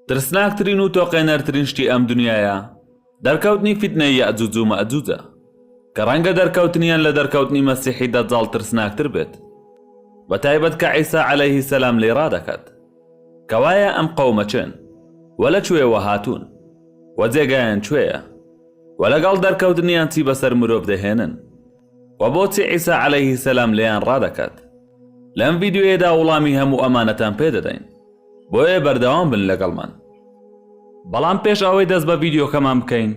ترسناکترین و تۆقێنەرترین شتی ئەم دنیاە دەرکەوتنی فیتنەی یاجوج و مەجوجە کە ڕەنگە دەرکەوتنیان لە دەرکەوتنی مەسیحی دەجاڵ ترسناکتر بێت بە تایبەت کە عیسا عەلەیهی سەلام لێ ڕادەکات کەوایە ئەم قەومە چێن؟ وە لە کوێوە هاتوون؟ وە جێگایان کوێیە؟ وە لەگەڵ دەرکەوتنیان چی بەسەر مرۆڤ دەهێنن؟ وە بۆچی عیسا عەلەیه سەلام لێیان ڕادەکات؟ لەم ڤیدیۆیەدا وڵامی هەموو ئەمانەتان پێ دەدەین بۆیە بەردەوام بن لەگەڵمان. بەڵام پێش ئەوەی دەست بە ڤیدیۆکەمان بکەین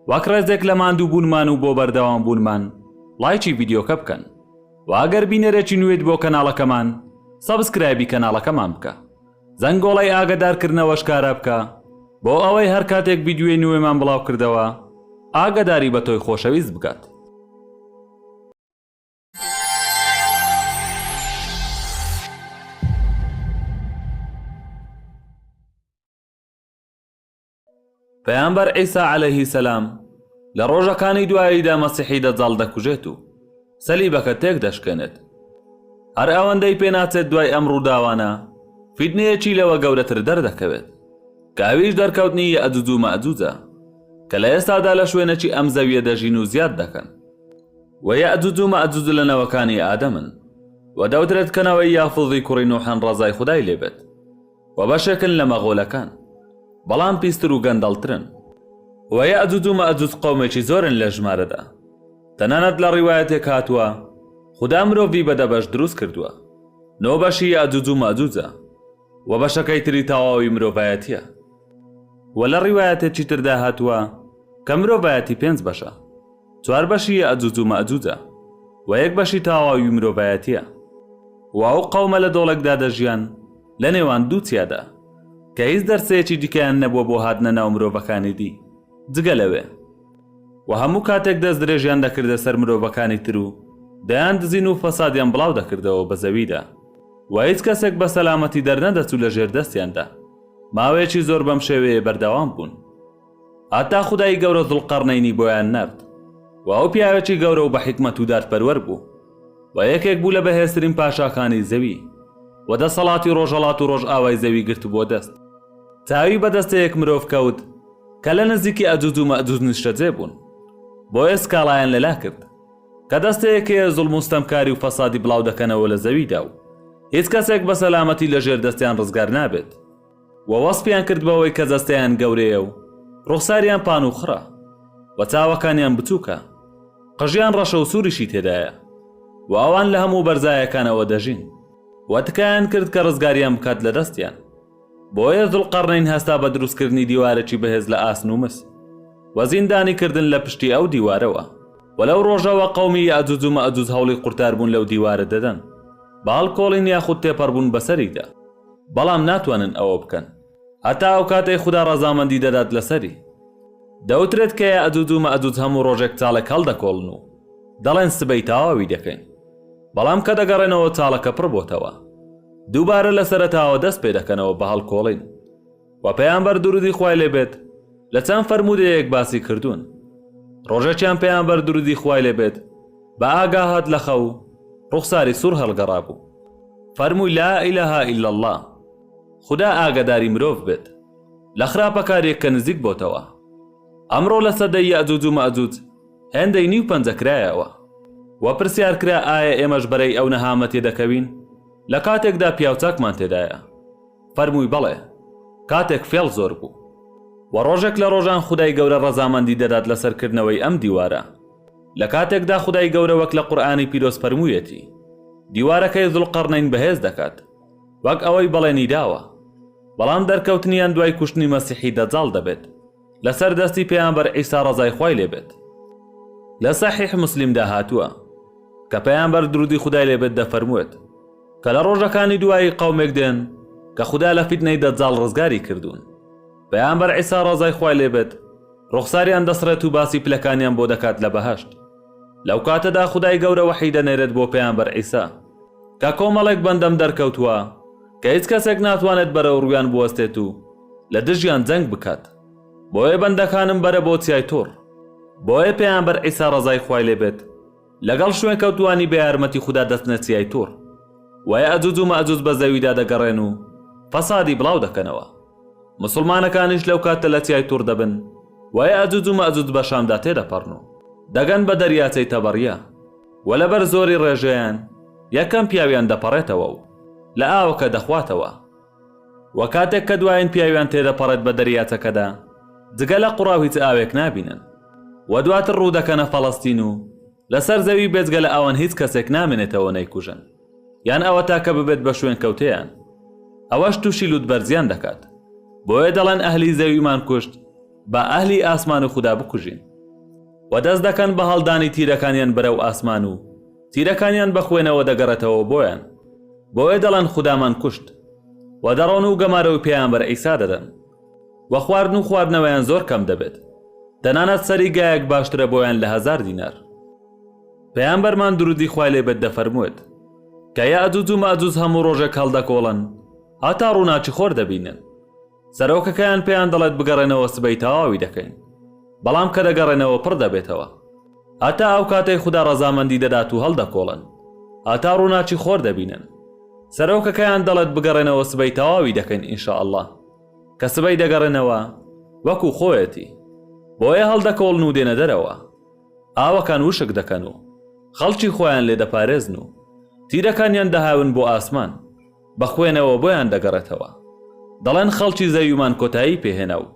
وەک ڕێزێک لە ماندوو بوونمان و بۆ بەردەوام بوونمان ڵایکی ڤیدیۆکە بکەن. وە ئەگەر بینەرێکی نوێیت بۆ کەناڵەکەمان سەبسکرایبی کەناڵەکەمان بکە زەنگۆڵەی ئاگەدارکردنەوەش کارا بکە بۆ ئەوەی هەر کاتێک ڤیدیۆی نوێمان بڵاو کردەوە ئاگەداری بە تۆی خۆشەویست بکات. پەیامبەر عیسا عەلەیهی سەلام لە ڕۆژەکانی دواییدا مەسیحی دەجاڵ دەکوژێت و سەلیبەکە تێک دەشکێنێت. هەر ئەوەندەی پێناچێت دوای ئەم ڕووداوانە فیتنەیەکی لەوە گەورەتر دەردەکەوێت کە ئەویش دەرکەوتنی یەئجوج و مەئجوجە کە لە ئێستادا لە شوێنێکی ئەم زەویە دەژین و زیاد دەکەن و یەئجوج و مەئجوج لە نەوەکانی ئادەمن و دەوترێت کە نەوەی یافوزی کوڕی نوحن ڕەزای خودای لێبێت و بەشێکن لە مەغۆلەکان بەڵام پیستر و گەندەڵترن و یەئجوج و مەئجوج قەومێکی زۆرن لە ژمارەدا تەنانەت لە ڕیوایەتێک هاتووە خودا مرۆڤی بە دە بەش دروست کردووە نۆ بەشی یەئجوج و مەئجوجە و بەشەکەی تری تەواوی مرۆڤایەتیە و لە ڕیوایەتێکی تردا هاتووە کە مرۆڤایەتی پێنج بەشە چوار بەشی یەئجوج و مەئجوجە و یەک بەشی تاواوی مرۆڤایەتیە و ئەو قەومە لە دۆڵێکدا دەژیان لە نێوان دوو چیادا کە هیچ دەرچەیەکی دیکەیان نەبووە بۆ هاتنە ناو مرۆڤەکانی دی جگە لەوێ و هەموو کاتێک دەست درێژیان دەکردە سەر مرۆڤەکانی تر و دەیان دزین و فەسادیان بڵاو دەکردەوە بە زەویدا و هیچ کەسێک بە سەلامەتی دەرنەدەچوو لە ژێر دەستیاندا ماوەیەکی زۆر بەم شێوەیە بەردەوام بوون. هەتا خودای گەورە زوڵقەڕنەینی بۆیان نارد و ئەو پیاوێکی گەورە و بە حیکمەت و دادپەروەر بوو و یەکێک بوو لە بەهێزترین پاشاکانی زەوی و دەسەڵاتی ڕۆژهەڵات و ڕۆژئاوای زەوی گرتبووە دەست. چاوی بە دەستەیەک مرۆڤ کەوت کە لە نزیکی ئەجوج و مەئجوج نیشتەجێ بوون، بۆیە سکاڵایان لەلا کرد کە دەستەیەک هەیە زوڵم و ستەمکاری و فەسادی بڵاو دەکەنەوە لە زەویدا و هیچ کەسێک بە سەلامەتی لە ژێر دەستیان ڕزگار نابێت. و وەسفیان کرد بەوەی کە جەستەیان گەورەیە و ڕوخساریان پان و خڕە و چاوەکانیان بچووکە، قژیان ڕەشە و سووریشی تێدایە و ئەوان لە هەموو بەرزایەکانەوە دەژین و تکایان کرد کە ڕزگاریان بکات لە دەستیان، بۆیە زولقەڕنەین هەستا بە دروستکردنی دیوارێکی بەهێز لە ئاسن و مس و زیندانی کردن لە پشتی ئەو دیوارەوە. و لەو ڕۆژەوە قەومی یەئجوج و مەئجوج هەوڵی قورتاربوون لەو دیوارە دەدەن بە هەڵکۆڵین یاخود تێپەڕبوون بەسەریدا. بەڵام ناتوانن ئەوە بکەن هەتا ئەو کاتەی خودا ڕەزامەندی دەدات لەسەری. دەوترێت کە یەئەجوج و مەئەجوج هەموو ڕۆژێک چاڵێک هەڵدەکۆڵن و دەڵێن سبەی تەواوی دەکەین، بەڵام کە دەگەڕێنەوە چاڵەکە پڕبۆتەوە. دووبارە لەسەرەتاوە دەست پێدەکەنەوە بە هەڵکۆڵین. وە پەیامبەر درودی خوای لێ بێت لە چەند فەرموودەیەک باسی کردوون ڕۆژێکیان پەیامبەر درودی خوای لێ بێت بە ئاگا هات لە خەو ڕوخساری سور هەڵگەڕابوو فەرمووی لا الە ها الا اللە خودا ئاگەداری مرۆڤ بێت لە خراپەکاریەک کە نزیک بۆتەوە ئەمڕۆ لە سەدەی یەئجوج و مەئجوج هێندەی نیو پەنجە کرایەوە وە پرسیار کرا ئایا ئێمەش بەرەی ئەو نەهامەتیە دەکەوین لە کاتێکدا پیاوچاکمان تێدایە فەرمووی بەڵێ کاتێک فێڵ زۆر بوو وە ڕۆژێک لە ڕۆژان خودای گەورە ڕەزامەندی دەدات لەسەر کردنەوەی ئەم دیوارە لە کاتێکدا خودای گەورە وەک لە قورئانی پیرۆز فەرموویەتی دیوارەکەی زوڵقەڕنەین بەهێز دەکات وەک ئەوەی بەڵێنی داوە بەڵام دەرکەوتنیان دوای کوشتنی مەسیحی دەجاڵ دەبێت لەسەر دەستی پێامبەر عیسا ڕەزای خوای لێ بێت لە سەحیح مسلیمدا هاتووە کە پەیامبەر درودی خدای لێ بێت دەفەرموێت کە لە ڕۆژەکانی دوایی قەومێک دێن کە خدا لە فیتنەی دەجاڵ ڕزگاری کردوون پەیامبەر عیسا ڕەزای خوای لێ بێت ڕوخساریان دەسڕێت و باسی پلەکانیان بۆ دەکات لە بەهشت لەو کاتەدا خدای گەورە وەحی دەنێرێت بۆ پەیامبەر عیسا کە کۆمەڵێک بەندەم دەرکەوتووە کە هیچ کەسێک ناتوانێت بەرەو ڕوویان بوەستێت و لە دژیان جەنگ بکات بۆیە بەندەکانم بەرە بۆ چیای تۆڕ بۆیە پێیامبەر عیسا ڕەزای خوای لێ بێت لەگەڵ شوێن کەوتوانی بە یارمەتی خودا دەچنە چیای تۆڕ وایە ئەجوج و مەئجوج بە زەویدا دەگەڕێن و فەسادی بڵاو دەکەنەوە مسلمانەکانیش لەو کاتە لە چیای تۆڕ دەبن وایە ئەجوج و مەئجوج بە شامدا تێدەپەڕن و دەگەن بە دەریاچەی تەبەڕیە وە لەبەر زۆری ڕێژەیان یەکەم پیاویان دەپەڕێتەوە و لە ئاوەکە دەخواتەوە وە کاتێک کە دوایین پیاویان تێدەپەڕێت بە دەریاچەکەدا جگە لە قوڕاو هیچ ئاوێک نابینن وە دواتر ڕوودەکەنە فەڵەستین و لەسەر زەوی بێجگە لە ئەوان هیچ کەسێک نامێنێتەوە نەیکوژن یان ئەوە تاکە ببێت بە شوێنکەوتەیان ئەوەش توشی لوتبەرزیان دەکات بۆیە دەڵێن ئەهلی زەویمان کوشت با ئەهلی ئاسمان و خودا بکوژین. و دەست دەکەن بە هەڵدانی تیرەکانیان بەرەو ئاسمان و تیرەکانیان بە خوێنەوە دەگەڕێتەوە بۆیان بۆیە دەڵێن خودامان کوشت و دەڕۆن و گەمارۆی پێامبەر عیسا دەدەن و خواردن و خواردنەوەیان زۆر کەم دەبێت تەنانەت سەری گایەک باشترە بۆیان لە هەزار دینار پێامبەرمان درودی خوای لێ بێت دەفەرموێت کە یەئجوج و مەئجوج هەموو ڕۆژێک هەڵدەکۆڵن هەتا ڕووناکی خۆر دەبینن سەرۆکەکەیان پێیان دەڵێت بگەڕێنەوە سبەی تەواوی دەکەین بەڵام کە دەگەڕێنەوە پڕ دەبێتەوە هەتا ئەو کاتەی خوددا ڕەزامەندی دەدات و هەڵدەکۆڵن هەتا ڕووناچی خۆر دەبینن سەرۆکەکەیان دەڵێت بگەڕێنەوە سبەی تەواوی دەکەین ئینشاء اللە کە سبەی دەگەڕێنەوە وەکو خۆیەتی بۆیە هەڵدەکۆڵن و دێنە دەرەوە ئاوەکان وشک دەکەن و خەڵکی خۆیان لێ دەپارێزن و تیرەکانیان دەهاون بۆ ئاسمان بەخوێنەوە بۆیان دەگەڕێتەوە دەڵێن خەڵکی زەویمان کۆتایی پێهێنا و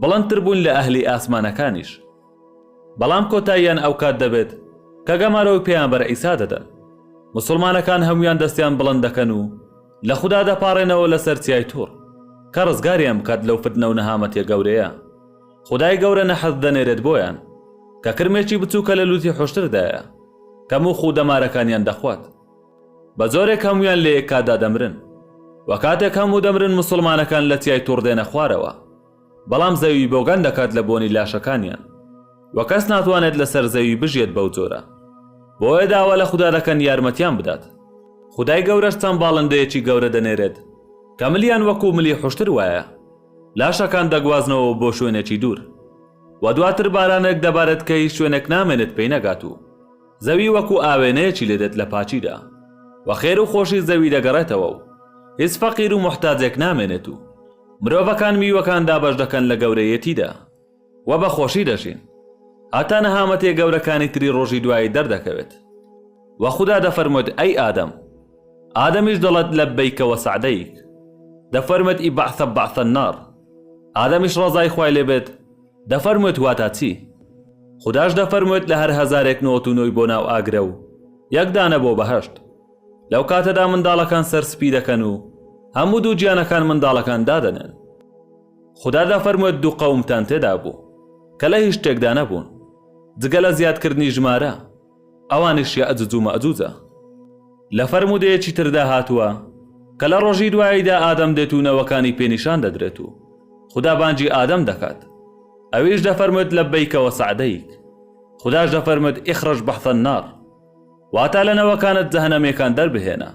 بڵندتر بوون لە ئەهلی ئاسمانەکانیش بەڵام کۆتاییان ئەوکات دەبێت کە گەمارۆی پێیامبەر عیسا دەدەن موسڵمانەکان هەمویان دەستیان بڵند دەکەن و لە خودا دەپاڕێنەوە لەسەر چیای توڕ کە ڕزگاریان بکات لەو فتنە و نەهامەتیە گەورەیە خودای گەورە نەحەس دەنێرێت بۆیان کە کرمێکی بچووکە لە لوتی حوشتردایە کە موخ و دەمارەکانیان دەخوات بەجۆرێک هەموویان لەیەک کاتدا دەمرن وەکاتێک هەموو دەمرن موسڵمانەکان لەتیای توڕ دێنە خوارەوە بەڵام زەوی بۆگەن دەکات لە بۆنی لاشەکانیان وەکەس ناتوانێت لەسەر زەوی بژیێت بەو جۆرە بۆیە داوا لە خودا دەکەن یارمەتیان بدات خودای گەورەش چەند باڵندەیەکی گەورە دەنێرێت کە ملیان وەکو ملی حوشتر وایە لاشەکان دەگوازنەوە بۆ شوێنێکی دوور و دواتر بارانێک دەبارێت کە هیچ شوێنێک نامێنێت پێی نەگات و زەوی وەکو ئاوێنەیەکی لێ دێت لە پاکیدا و خێر و خۆشی زەوی دەگەڕێتەوە و هیچ فەقیر و موحتاجێک نامێنێت و مرۆڤەکان میوەکان دابەش دەکەن لە گەورەیەتیدا و بە خۆشی دەژین هەتا نەهامەتیە گەورەکانی تری ڕۆژی دوایی دەردەکەوێت و خودا دەفەرموێت ئەی ئادەم ئادەمیش دەڵێت لەبەیکە وە سەعدەیک دەفەرمێت ئی بەعثە بەعثە نار ئادەمیش ڕەزای خوای لێ بێت دەفەرموێت واتا چی؟ خوداش دەفەرموێت لە هەر هەزارێک نۆت و نۆی بۆ ناو ئاگرە و یەک دانە بۆ بەهەشت. لەو کاتەدا منداڵەکان سەر سپی دەکەن و هەموو دوو گیانەکان منداڵەکان دادەنێن. خودا دەفەرموێت دوو قەومتان تێدا بوو کە لە هیچ شتێکدا نەبوون جگە لە زیادکردنی ژمارە. ئەوانیش یەئجوج و مەئجوجە. لە فەرموودەیەکی تردا هاتووە، کە لە ڕۆژی دواییدا ئادەم دێت و نەوەکانی پێ نیشان دەدرێت و خودا بانگی ئادەم دەکات، ئەویش دەفەرموێت لبیک و سعدیک. خوداش دەفەرموێت اخرج بحث النار. واتە لە نەوەکانت جەهەنەمیەکان دەربهێنە.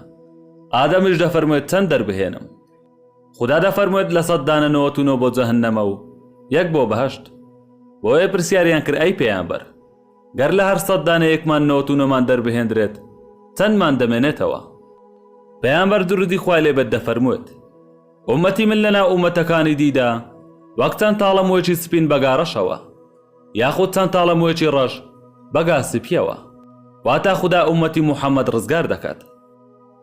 ئادەمیش دەفەرموێت چەند دەربهێنم؟ خودا دەفەرموێت لە سەد دانە نۆەت و نۆ بۆ جەهەنەمە و یەک بۆ بەهەشت. بۆیە پرسیاریان کرد ئەی پێامبەر! گەر لە هەر سەد دانەیەکمان نەوەت و نۆمان دەربهێندرێت چەندمان دەمێنێتەوە؟ پەیامبەر دروودی خوای لێ بێت دەفەرموێت، ئوممەتی من لەناو ئوممەتەکانی دیدا وەک چەند تاڵە موێکی سپین بە گارەشەوە، یاخود چەند تاڵە موێکی ڕەش بە گا سپییەوە، واتە خودا ئوممەتی موحەممەد ڕزگار دەکات.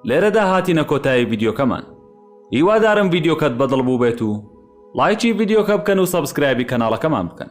لێرەدا هاتینە کۆتایی ڤیدیۆکەمان، هیوادارم ڤیدیۆکەت بەدڵ بووبێت و ڵایکی ڤیدیۆکە بکەن و سەبسکرایبی کەناڵەکەمان بکەن.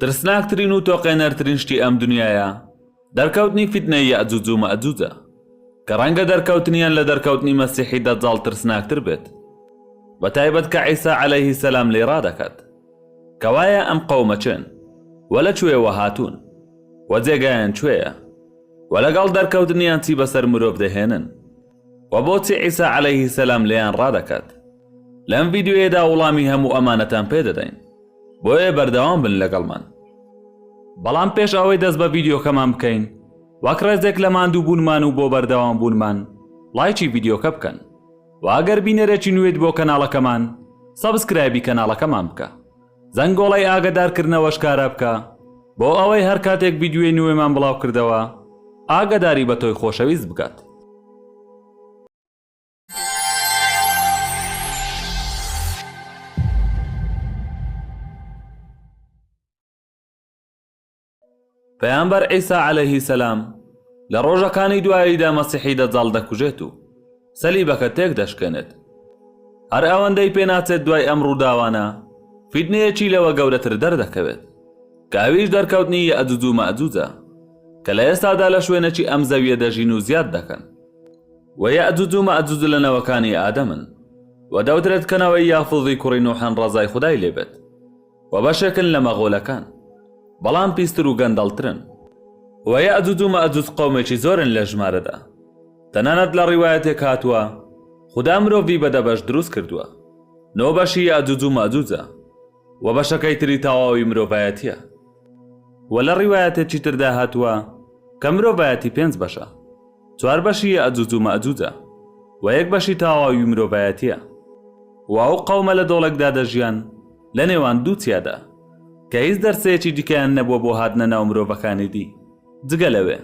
ترسناکترین و تۆقێنەرترین شتی ئەم دنیاە دەرکەوتنی فیتنە یەجوج و مەجوجە کە ڕەنگە دەرکەوتنیان لە دەرکەوتنی مەسیحی دەجاڵ ترسناکتر بێت بە تایبەت کە عیسا عەلەیهی سەلام لێی ڕادەکات کەوایە ئەم قەومە کێن؟ وە لە کوێوە هاتوون؟ وە جێگایان کوێیە؟ وە لەگەڵ دەرکەوتنیان چی بەسەر مرۆڤ دەهێنن؟ وە بۆچی عیسا عەلەیه سەلام لێیان ڕادەکات؟ لەم ڤیدیۆیەدا وڵامی هەموو ئەمانەتان پێ دەدەین بۆیە بەردەوام بن لەگەڵمان. بەڵام پێش ئەوەی دەست بە ڤیدیۆکەمان بکەین وەک ڕێزێک لە ماندوو بوونمان و بۆ بەردەوام بوونمان ڵایکی ڤیدیۆکە بکەن. وە ئەگەر بینەرێکی نوێیت بۆ کەناڵەکەمان سەبسکرایبی کەناڵەکەمان بکە زەنگۆڵەی ئاگەدارکردنەوەش کارا بکە بۆ ئەوەی هەر کاتێک ڤیدیۆی نوێمان بڵاو کردەوە ئاگەداری بە تۆی خۆشەویست بکات. پەیامبەر عیسا عەلەیهی سەلام لە ڕۆژەکانی دواییدا مەسیحی دەجاڵ دەکوژێت و سەلیبەکە تێک دەشکێنێت. هەر ئەوەندەی پێناچێت دوای ئەم ڕووداوانە فیتنەیەکی لەوە گەورەتر دەردەکەوێت کە ئەویش دەرکەوتنی یەئجوج و مەئجوجە کە لە ئێستادا لە شوێنێکی ئەم زەویە دەژین و زیاد دەکەن و یەئجوج و مەئجوج لە نەوەکانی ئادەمن و دەوترێت کە نەوەی یافوزی کوڕی نوحن ڕەزای خودای لێبێت. و بەشێکن لە مەغۆلەکان بەڵام پیستر و گەندەڵترن و یەئجوج و مەئجوج قەومێکی زۆرن لە ژمارەدا تەنانەت لە ڕیوایەتێک هاتووە خودا مرۆڤی بە دە بەش دروست کردووە نۆ بەشی یەئجوج و مەئجوجە و بەشەکەی تری تەواوی مرۆڤایەتیە و لە ڕیوایەتێکی تردا هاتووە کە مرۆڤایەتی پێنج بەشە چوار بەشی یەئجوج و مەئجوجە و یەک بەشی تاواوی مرۆڤایەتیە و ئەو قەومە لە دۆڵێکدا دەژیان لە نێوان دوو چیادا کە هیچ دەرچەیەکی دیکەیان نەبووە بۆ هاتنە ناو مرۆڤەکانی دی جگە لەوێ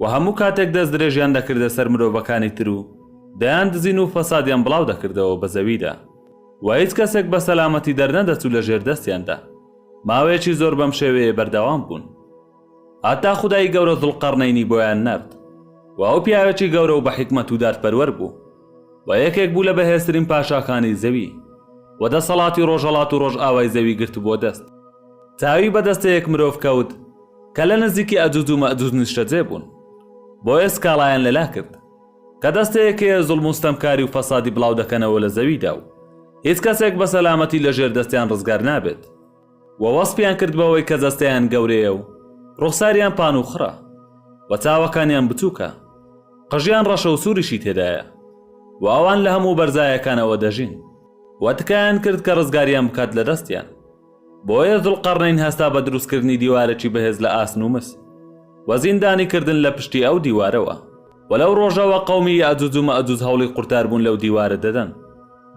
و هەموو کاتێک دەست درێژیان دەکردە سەر مرۆڤەکانی تر و دەیان دزین و فەسادیان بڵاو دەکردەوە بە زەویدا و هیچ کەسێک بە سەلامەتی دەرنەدەچوو لە ژێر دەستیاندا ماوەیەکی زۆر بەم شێوەیە بەردەوام بوون هەتا خودای گەورە زوڵقەڕنەینی بۆیان نارد و ئەو پیاوێکی گەورە و بە حیکمەت و دادپەروەر بوو و یەکێک بوو لە بەهێزترین پاشاکانی زەوی و دەسەڵاتی ڕۆژهەڵات و ڕۆژئاوای زەوی گرتبووە دەست. چاوی بە دەستەیەک مرۆڤ کەوت کە لە نزیکی ئەجوج و مەئجوج نیشتەجێ بوون، بۆیە سکاڵایان لەلا کرد کە دەستەیەک هەیە زوڵم و ستەمکاری و فەسادی بڵاو دەکەنەوە لە زەویدا و هیچ کەسێک بە سەلامەتی لە ژێر دەستیان ڕزگار نابێت. و وەسفیان کرد بەوەی کە جەستەیان گەورەیە و ڕوخساریان پانوخڕە و چاوەکانیان بچووکە، قژیان ڕەشە و سووریشی تێدایە و ئەوان لە هەموو بەرزایەکانەوە دەژین و تکایان کرد کە ڕزگاریان بکات لە دەستیان، بۆیە زولقەڕنەین هەستا بە دروستکردنی دیوارێکی بەهێز لە ئاسن و مس و زیندانی کردن لە پشتی ئەو دیوارەوە. و لەو ڕۆژەوە قەومی یەئجوج و مەئجوج هەوڵی قورتاربوون لەو دیوارە دەدەن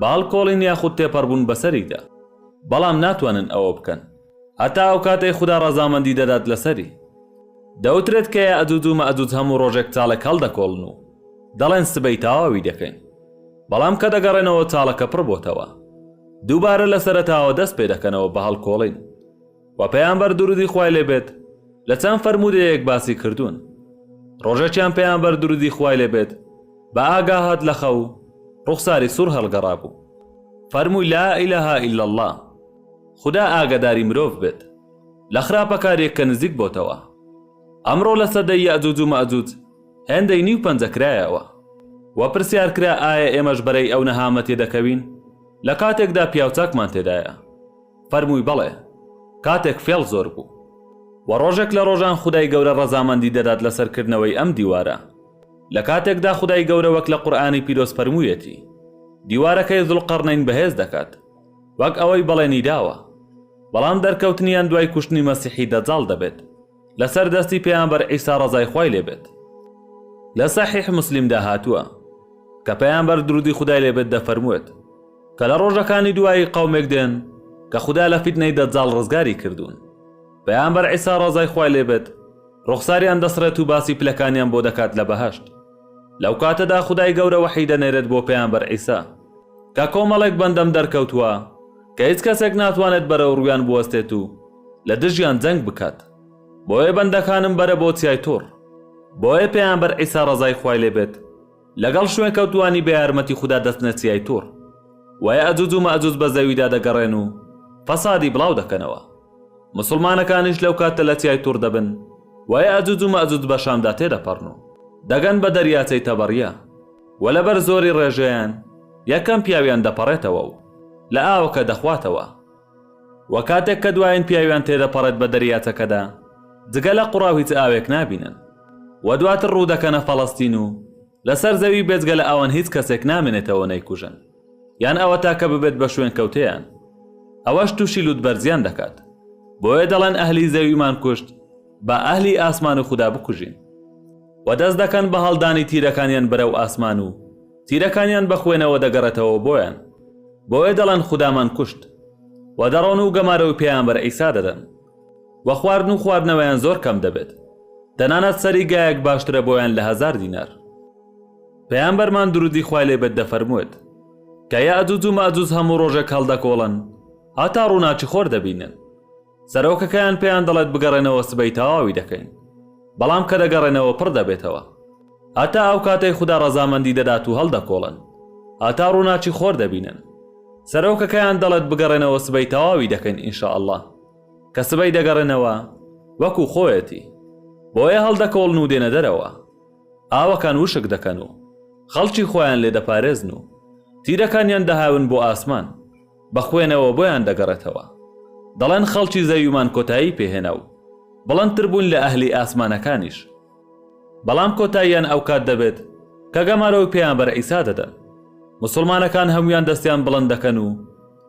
بە هەڵکۆڵین یاخود تێپەڕبوون بەسەریدا. بەڵام ناتوانن ئەوە بکەن هەتا ئەو کاتەی خودا ڕەزامەندی دەدات لەسەری. دەوترێت کە یەئجوج و مەئجوج هەموو ڕۆژێک چاڵێک هەڵدەکۆڵن و دەڵێن سبەی تەواوی دەکەین. بەڵام کە دەگەڕێنەوە چاڵەکە پڕبۆتەوە. دووبارە لەسەرەتاوە دەست پێدەکەنەوە بە هەڵکۆڵین. وە پەیامبەر درودی خوای لێ بێت لە چەند فەرموودەیەک باسی کردوون ڕۆژێکیان پەیامبەر درودی خوای لێ بێت بە ئاگا هات لە خەو ڕوخساری سور هەڵگەڕابوو فەرمووی لا الە الا اللە خودا ئاگەداری مرۆڤ بێت لە خراپە کاریەک کە نزیک بۆتەوە ئەمڕۆ لە سەدەی یەئجوج و مەئجوج هێندەی نیو پەنجە کرایەوە وە پرسیار کرا ئایا ئێمەش بەرەی ئەو نەهامەتیە دەکەوین لە کاتێکدا پیاوچاکمان تێدایە فەرمووی بەڵێ کاتێک فێڵ زۆر بوو. وە ڕۆژێک لە ڕۆژان خودای گەورە ڕەزامەندی دەدات لەسەر کردنەوەی ئەم دیوارە لە کاتێکدا خودای گەورە وەک لە قورئانی پیرۆز فەرموویەتی دیوارەکەی زولقەڕنەین بەهێز دەکات وەک ئەوەی بەڵێنی داوە بەڵام دەرکەوتنیان دوای کوشتنی مەسیحی دەجاڵ دەبێت. لەسەر دەستی پێامبەر عیسا ڕەزای خوای لێ بێت لە سەحیح مسلیمدا هاتووە کە پەیامبەر درودی خدای لێ بێت دەفەرموێت کە لە ڕۆژەکانی دوایی قەومێک دێن کە خدا لە فیتنەی دەجاڵ ڕزگاری کردوون پەیامبەر عیسا ڕەزای خوای لێ بێت ڕوخساریان دەسڕێت و باسی پلەکانیان بۆ دەکات لە بەهەشت لەو کاتەدا خدای گەورە وەحی دەنێرێت بۆ پەیامبەر عیسا کە کۆمەڵێک بەندەم دەرکەوتووە کە هیچ کەسێک ناتوانێت بەرەو ڕوویان بوەستێت و لە دژیان جەنگ بکات بۆیە بەندەکانم بەرە بۆ چیای تۆڕ بۆیە پێیانبەر عیسا ڕەزای خوای لێ بێت لەگەڵ شوێن کەوتوانی بە یارمەتی خودا دەچنە چیای تۆڕ وایە ئەجوج و مەجوج بە زەویدا دەگەڕێن و فەسادی بڵاو دەکەنەوە مسلمانەکانیش لەو کاتە لە چیای تۆڕ دەبن وایە ئەجوج و مەجوج بە شامدا تێدەپەڕن و دەگەن بە دەریاچەی تەبەڕیە وە لەبەر زۆری ڕێژەیان یەکەم پیاویان دەپەڕێتەوە و لە ئاوەکە دەخواتەوە وە کاتێک کە دوایین پیاویان تێدەپەڕێت بە دەریاچەکەدا جگە لە قوڕاو هیچ ئاوێک نابینن وە دواتر ڕوودەکەنە فەڵەستین و لەسەر زەوی بێجگە لە ئەوان هیچ کەسێک نامێنێتەوە نەیکوژن. یان ئەوەتا کە ببێت بە شوێنکەوتەیان ئەوەش تووشی لوتبەرزیان دەکات بۆیە دەڵێن ئەهلی زەویمان کوشت با ئەهلی ئاسمان و خودا بکوژین و دەست دەکەن بە هەڵدانی تیرەکانیان بەرەو ئاسمان و تیرەکانیان بە خوێنەوە دەگەڕێتەوە بۆیان بۆیە دەڵێن خودامان کوشت و دەڕۆن و گەمارۆی پێیانبەر ئیسا دەدەن و خواردن و خواردنەوەیان زۆر کەم دەبێت تەنانەت سەری گایەک باشترە بۆیان لە هەزار دینار پەیامبەرمان درودی خوای لێ بێت دەفەرموێت، کە یەئجوج و مەئجوج هەموو ڕۆژێک هەڵدەکۆڵن هەتا ڕووناکی خۆر دەبینن، سەرۆکەکەیان پێیان دەڵێت بگەڕێنەوە سبەی تەواوی دەکەین، بەڵام کە دەگەڕێنەوە پڕ دەبێتەوە، هەتا ئەو کاتەی خودا ڕەزامەندی دەدات و هەڵدەکۆڵن هەتا ڕووناکی خۆر دەبینن، سەرۆکەکەیان دەڵێت بگەڕێنەوە سبەی تەواوی دەکەین ان شاء اللە، کە سبەی دەگەڕێنەوە وەکو خۆیەتی، بۆیە هەڵدەکۆڵن و دێنە دەرەوە. ئاوەکان وشک دەکەن و خەڵکی خۆیان لێ دەپارێزن و تیرەکانیان دەهاون بۆ ئاسمان، بە خوێنەوە بۆیان دەگەڕێتەوە. دەڵێن خەڵکی زەویمان کۆتایی پێ هێنا و بڵندتر بوون لە ئەهلی ئاسمانەکانیش. بەڵام کۆتاییان ئەوکات دەبێت کە گەمارۆی پێامبەر عیسا دەدەن. موسڵمانەکان هەموویان دەستیان بڵند دەکەن و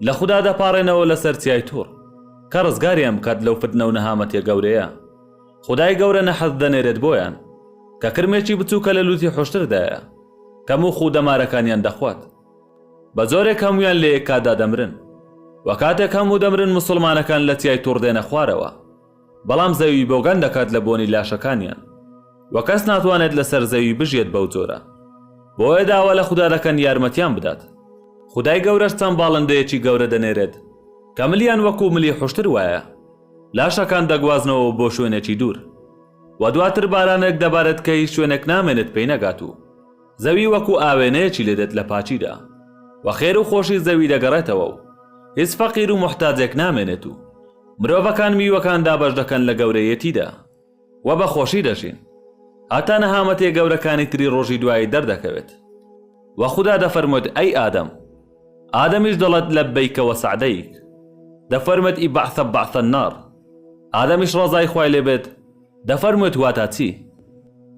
لە خودا دەپاڕێنەوە لەسەر چیای توڕ، کە ڕزگاریان بکات لەو فتنە و نەهامەتیە گەورەیە. خودای گەورە نەحس دەنێرێت بۆیان، کە کرمێکی بچووکە لە لووتی حوشتردایە، کە موخ و دەمارەکانیان دەخوات. بە جۆرێک هەموویان لە یەک کاتدا دەمرن. وە کاتێک هەموو دەمرن موسڵمانەکان لە تای توڕ دێنە خوارەوە، بەڵام زەوی بۆگەن دەکات لە بۆنی لاشەکانیان، وە کەس ناتوانێت لەسەر زەوی بژیێت بەو جۆرە. بۆیە داوا لە خودا دەکەن یارمەتیان بدات. خودای گەورەش چەند باڵندەیەکی گەورە دەنێرێت، کە ملیان وەکو ملی حوشتر وایە. لاشەکان دەگوازنەوە بۆ شوێنێکی دوور و دواتر بارانێک دەبارێت کە هیچ شوێنێک نامێنێت پێی نەگات و زەوی وەکو ئاوێنەیەکی لێ دێت لە پاکیدا و خێر و خۆشی زەوی دەگەڕێتەوە و هیچ فەقیر و موحتاجێک نامێنێت و مرۆڤەکان میوەکان دابەش دەکەن لە گەورەیەتیدا. و بە خۆشی دەژین هەتا نەهامەتیە گەورەکانی تری ڕۆژی دوایی دەردەکەوێت و خودا دەفەرموێت ئەی ئادەم ئادەمیش دەڵێت لەبەیکە وەسەعدەیک دەفەرمێت ئی بەعثە بەعثە النار ئادەمیش ڕەزای خوای لێبێت دەفەرموێت واتا چی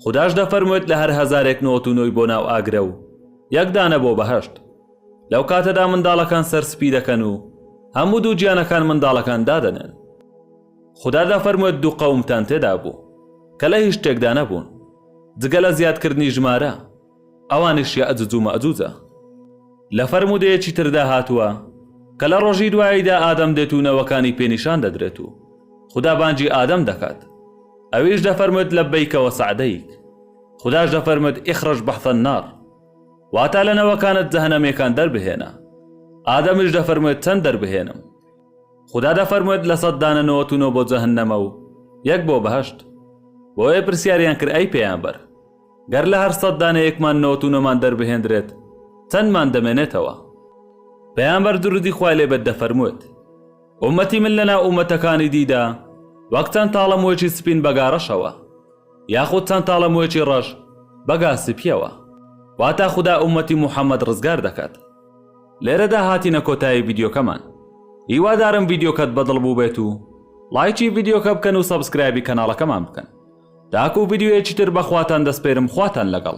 خوداش دەفەرموێت لە هەر هەزارێک نۆت و نۆی بۆ ناو ئاگرە و یەک دانە بۆ بەهەشت لەو کاتەدا منداڵەکان سەر سپی دەکەن و هەموو دوو گیانەکان منداڵەکان دادەنێن خودا دەفەرموێت دوو قەومتان تێدا بوو کە لە هیچ شتێکدا نەبوون جگە لە زیادکردنی ژمارە، ئەوانیش یەئجوج و مەئجوجە. لە فەرموودەیەکی تردا هاتووە کە لە ڕۆژی دواییدا ئادەم دێت و نەوەکانی پێ نیشان دەدرێت و خودا بانگی ئادەم دەکات، ئەویش دەفەرموێت لبیک و سعدیک. خوداش دەفەرموێت اخرج بحث النار، واتە لە نەوەکانت جەهەنەمییەکان دەربهێنە. ئادەمیش دەفەرموێت چەند دەربهێنم؟ خودا دەفەرموێت لە سەد دانە نەوەت و نۆ بۆ جەهەننەمە و یەک بۆ بەهەشت، بۆیە پرسیاریان کرد ئەی پەیامبەر گەر لە هەر سەد دانە یەکمان نەوەت و نۆمان دەربهێندرێت چەندمان دەمێنێتەوە؟ پەیامبەر درودی خوای لێ بێت دەفەرموێت، ئومەتی من لە ناو ئومەتەکانی دیدا وەک چەند تاڵە موێکی سپین بە گا ڕەشەوە، یاخود چەند تاڵە موێکی ڕەش بە گا سپیەوە، واتە خودا ئومەتی موحەممەد ڕزگار دەکات. لێرەدا هاتینە کۆتایی ڤیدیۆکەمان هیوادارم ڤیدیۆکەت بەدڵ بووبێت و لایکی ڤیدیۆکە بکەن و سەبسکرایبی کەناڵەکەمان بکەن تاکو ڤیدیۆیەکی تر بەخواتان دەسپێرم خواتان لەگەڵ